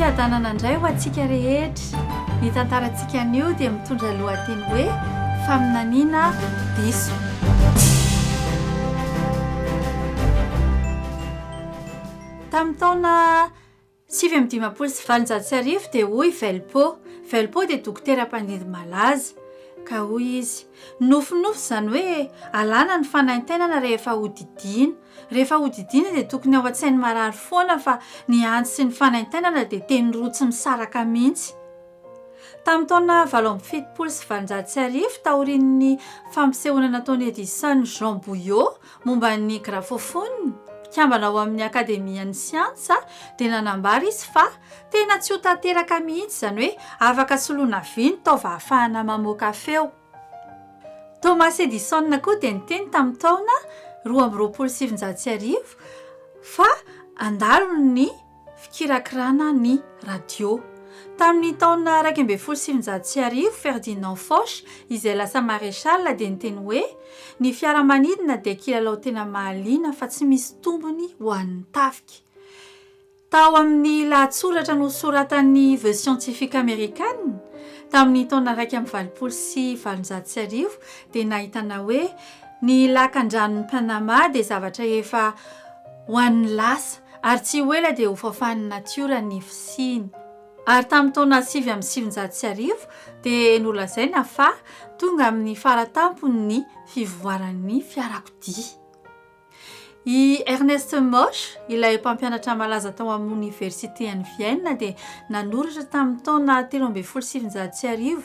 Fiadanana indray ho antsika rehetra. Ny tantarantsika anio dia mitondra lohateny hoe faminaniana diso. Tamin'ny taona Sivy amby dimampolo sy valonjato sy arivo dia hoy Velpo, Velpo dia dokotera mpandindy malaza, ka hoy izy, Nofinofy izany hoe alàna ny fanaintainana rehefa hodidiana. Rehefa hodidiana dia tokony ao an-tsain'ny marary foana fa ny antsy sy ny fanaintainana dia teny roa tsy misaraka mihitsy. Tamin'ny taona valo amby fitopolo sy valonjato sy arivo, taorian'ny fampisehoana nataon'i Edison Jean Bouillot, Momba ny grafofonina, mpikambana ao amin'ny Akademian'ny Siansa, dia nanambara izy fa tena tsy ho tanteraka mihitsy izany hoe afaka soloina vy ny taova ahafahana mamoaka feo. Thomas Edison koa dia niteny tamin'ny taona roa amby roapolo sy sivinjato sy arivo fa handalo ny fikirakirana ny radio. Tamin'ny taona iraika ambin'ny folo sy sivinjato sy arivo, Ferdinand Foch, izay lasa maréchal, dia niteny hoe, Ny fiaramanidina dia kilalao tena mahaliana fa tsy misy tombony ho an'ny tafika. Tao amin'ny lahatsoratra nosoratan'ny The Scientific American, tamin'ny taona iraika amby valopolo sy valonjato sy arivo, dia nahitana hoe, Ny Lakandranon'i Panama dia zavatra efa ho an'ny lasa. Ary tsy ho ela dia hofafan'ny natiora ny fisiany. Ary tamin'ny taona sivy amby sivinjato sy arivo dia nolazaina fa tonga amin'ny faratampony ny fivoaran'ny fiarakodia. I Ernest Mosch, ilay mpampianatra malaza tao amin'ny Oniversiten'i Vienne dia nanoratra tamin'ny taona telo ambin'ny folo sy sivinjato sy arivo,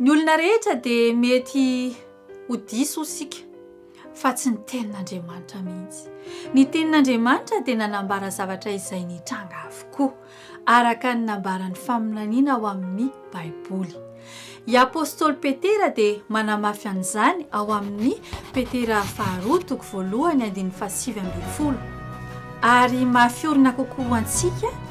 Ny olona rehetra dia mety ho diso isika fa tsy ny tenin'Andriamanitra mihitsy. Ny tenin'Andriamanitra dia nanambara zavatra izay nitranga avokoa araka ny nambaran'ny faminaniana ao amin'ny Baiboly. I Apostoly Petera dia manamafy an'izany ao amin'ny Petera faharoa toko voalohany andininy fahasivy ambin'ny folo. Ary mafy orina kokoa ho antsika